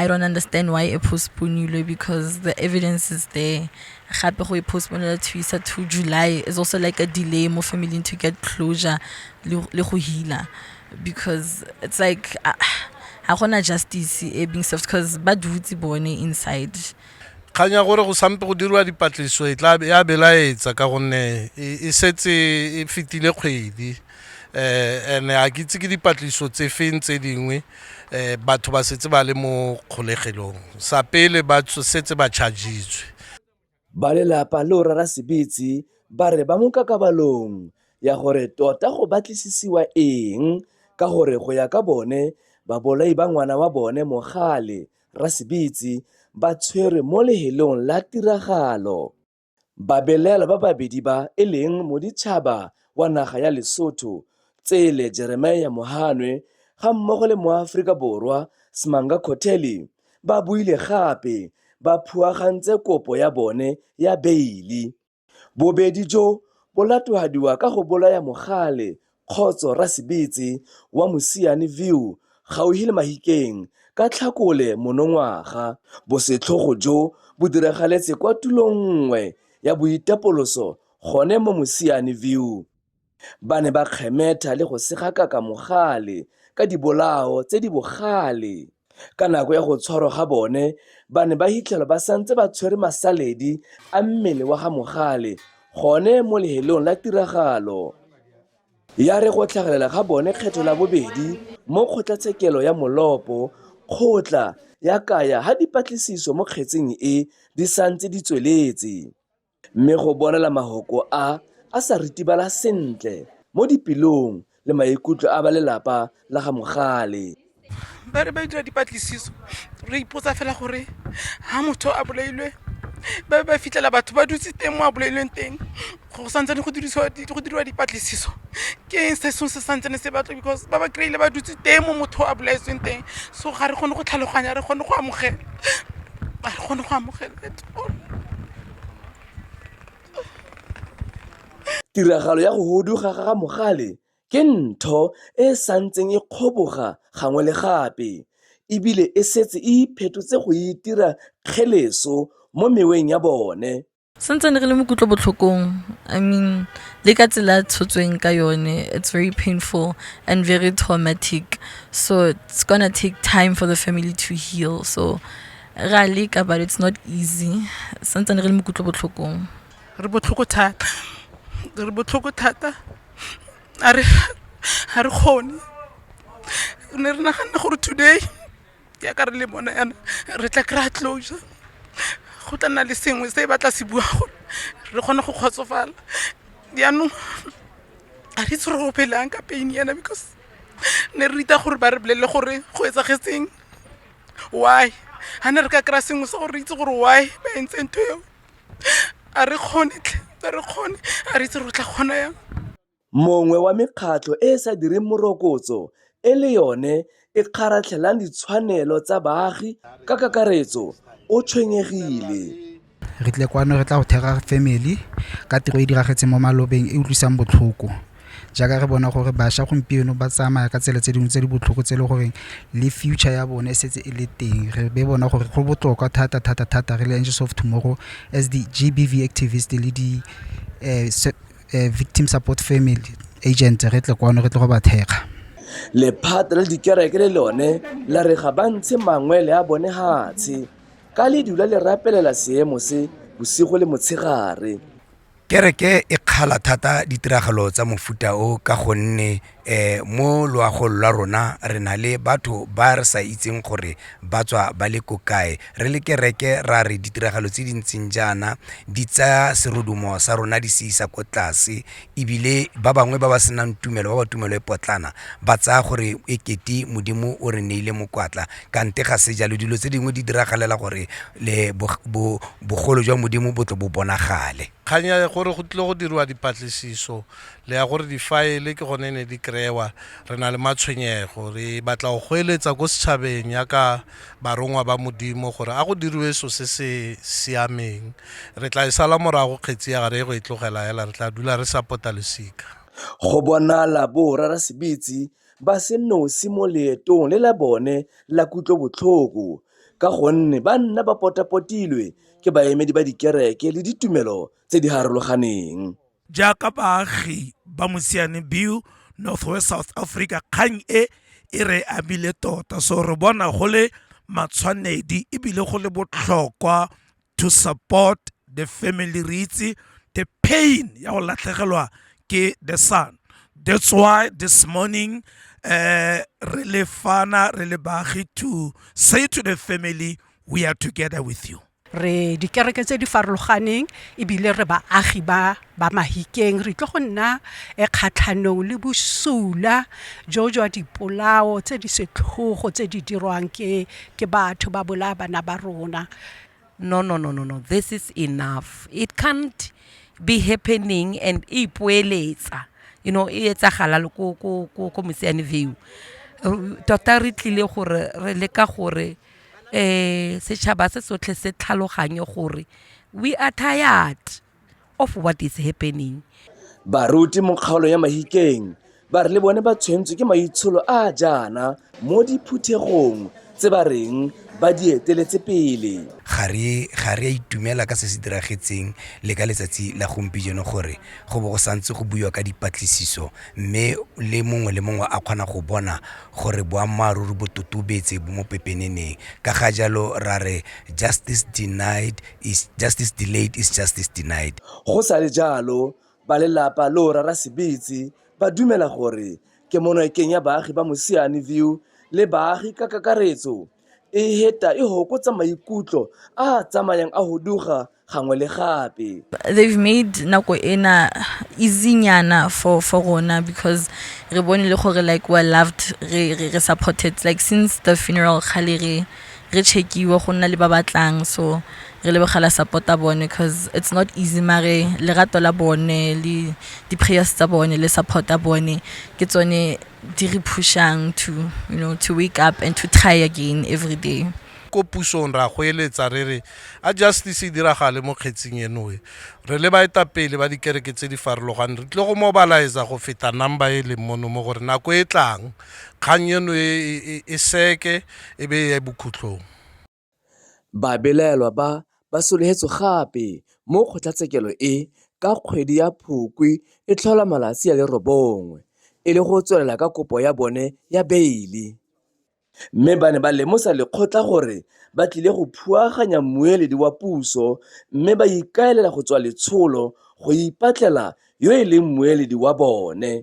I don't understand why e postponilwe because the evidence is there. Gape go e postponela to isa to July is also like a delay mo family to get closure le go healer because it's like uh, ha gona justice e being served because ba dutse bone inside kgang ya gore go sampe go dirwa dipatlisiso e tla ya belaetsa ka gonne e, e setse e fetile kgwedi um and-e ga ke itse ke dipatlisiso tse feng tse dingwe um batho ba setse ba le mo kgolegelong sa pele ba setse ba chargitswe ba lelapa le o rara sebetsi ba re ba mo kakabalong ya gore tota go batlisisiwa eng ka gore go ya ka bone babolai ba ngwana wa bone mogale rasebetsi ba tshwerwe mo lehelong la tiragalo Babelaelwa ba babedi ba e leng moditšhaba wa naga ya Lesotho, Tsele Jeremiah Mohanwe ga mmogo le moAforika Borwa Smanga Cotelli ba buile gape ba phuagantse kopo ya bone ya beili. Bobedi jo bo latofadiwa ka go bolaya mogale Kgotso Rasebetse wa Mosiane View gauhi le Mahikeng ka Tlhakole monongwaga. Bosetlhogo jo bo diragaletse kwa tulong nngwe ya boitapoloso gone mo Mosiane View. Ba ne ba kgemetha le go segakaka mogale ka dibolao tse di bogale. Ka nako ya go tshwarwa ga bone, ba ne ba hitlhelwa ba santse ba tshwere masaledi a mmele wa ga Mogale gone mo lehelong la tiragalo. Ya re go tlhagelela ga bone kgetho la bobedi mo kgotlatshekelo ya Molopo, kgotla ya kaya ha dipatlisiso mo kgetseng e di santse di tsweletse. Mme go bolela mahoko a a sa ritibala sentle mo dipelong le maikutlo a ba lelapa la ga Mogale. Ba re ba dira dipatlisiso re ipotsa fela gore ha motho a bolailwe ba be ba fitlhela batho ba dutse teng mo a bolailweng teng go santsane go dirisiwa go diriwa dipatlisiso ke eng se sengwe se santsane se batlo because ba ba kry-ile ba dutse teng mo motho a bolaetsweng teng so ga re kgone go tlhaloganya re kgone go amogela ga re kgone go amogela Tiragalo ya go huduga ga Mogale ke ntho e e santseng e kgoboga gangwe le gape e bile e setse e iphetotse go itira kgeleso mo meweng ya bone. Santsane re le mo kutlobotlhokong I mean le ka tsela a tshotsweng ka yone it's very painful and very traumatic so it's gonna take time for the family to heal so re a leka but it's not easy santsane re le mokutlo botlhokong re botlhoko thata re botlhoko thata a re ga re kgone re ne re naganna gore today yaka re le bona yana re tla kry-a closure go tla nna le sengwe se e batla se bua gore re kgone go kgotsofala jaanong a re itse re opelang ka pain yana because ne re rita gore ba re bolelele gore go etsagetseng why ga ne re ka kry-a sengwe se gore re itse gore why ba entse ntho eo a re kgone tlhe a re kgone a re itse re tla kgona yang mongwe wa mekgatlho e e sa direng morokotso e le yone e kgaratlhelang ditshwanelo tsa baagi ka kakaretso o tshwenyegile Re tle kwano re tla go thera family ka tiro e e diragetseng mo malobeng e utlwisang botlhoko. Jaaka re bona gore bašwa gompieno ba tsamaya ka tsela tse dingwe tse di botlhoko tse e le goreng le future ya bone e setse e le teng. Re be bona gore go botlhokwa thata thata thata re le Angels of Tomorrow as di G_B_V activist le di victim support family agent re tle kwano re tle go ba thekga. Lephata la dikereke le lone la re ga ba ntshe mangwele a bone fatshe. Ka le dula le rapelela seemo se bosigo le motshegare. Kereke e kgala thata ditiragalo tsa mofuta o ka gonne um mo loagong lwa rona re na le batho ba re sa itseng gore ba tswa ba le ko kae. Re le kereke ra re ditiragalo tse di ntseng jaana di tsaya serodumo sa rona di se isa ko tlase, ebile ba bangwe ba ba senang tumelo, ba ba tumelo e potlana, ba tsaya gore e kete Modimo o re neile mokwatla. Kante ga se jalo, dilo tse dingwe di diragalela gore le bogolo jwa Modimo bo tle bo bonagale. Kgang ya gore go tlile go diriwa dipatlisiso le ya gore difaele ke gone ne di kry-ewa re na le matshwenyego, re batla go goeletsa ko setšhabeng yaka barongwa ba Modimo gore a go diriwe so se se siameng. Re tla e sala morago kgetsi ya ga re ye go e tlogela hela, re tla dula re sa pota losika. Go bonala borarasebetsi ba se nosi mo leetong le la bone la kutlobotlhoko ka gonne ba nna ba potapotilwe ke baemedi ba dikereke le ditumelo tse di harologaneng. jaaka baagi ba mosiane biu northwest south africa kgang e e re amile tota so re bona go le matshwanedi ebile go le botlhokwa to support the family re itse the pain ya go latlhegelwa ke the son that's why this morning uh, re le fana re le baagi to say to the family we are together with you re dikereke tse di farologaneng ebile re baagi ba ba mahikeng re tlo go nna e kgatlhanong le bosula jo jwa dipolao tse di setlhogo tse di dirwang ke ke batho ba bolaya bana ba rona no no no no no this is enough it can't be happening and e ipoeletsa you know e etsagala ko ko ko ko mosiane view tota re tlile gore re leka gore um setšhaba se sotlhe se tlhaloganye gore we are tired of what is happening baruti mo kgaolo ya mahikeng ba re le bone ba tshwentswe ke maitsholo a a jaana mo diphuthegong tse ba reng ba di eteletse pele ga re ga re a itumela ka se se diragetseng le ka letsatsi la gompieno gore go bo go santse go buiwa ka dipatlisiso mme le mongwe le mongwe a kgona go bona gore boammaaruri bo totobetse bo mo pepeneneng ka ga jalo ra re justice denied is justice delayed is justice denied. Go sa le jalo, ba lelapa loo Rara Sebetsi ba dumela gore kemonokeng ya baagi ba Mosiane View le baagi ka kakaretso, e heta e hokotsa maikutlo a tsamayang a huduga gangwe le gape they've made nako ena easynyana for for rona because re bone le gore like we're loved re re re supported like since the funeral kgale re re checkiwe go nna le ba batlang so re lebogela supporta bone because it's not easy mare lerato la bone le di-prayers tsa bone le supporta bone ke tsone di re pushang to you know to wake up and to try again every day ko pusong ra go eletsa re re a justice e diragale mo kgetsing enoe re le baetapele ba dikereke tse di farologaneng re tlile go mobiliza go feta number e leng mono mo gore nako e tlang kgang eno e, e, e, e seke e be e ya bokhutlhong Babelaelwa ba ba solegetswe gape mo kgotlatshekelo e ka kgwedi ya Phukwi e tlhola malatsi a le robongwe e le go tswelela ka kopo ya bone ya beile mme ba ne ba lemosa lekgotla gore ba tlile go phuaganya mmueledi wa puso mme ba ikaelela go tswa letsholo go ipatlela yo e leng mmueledi wa bone.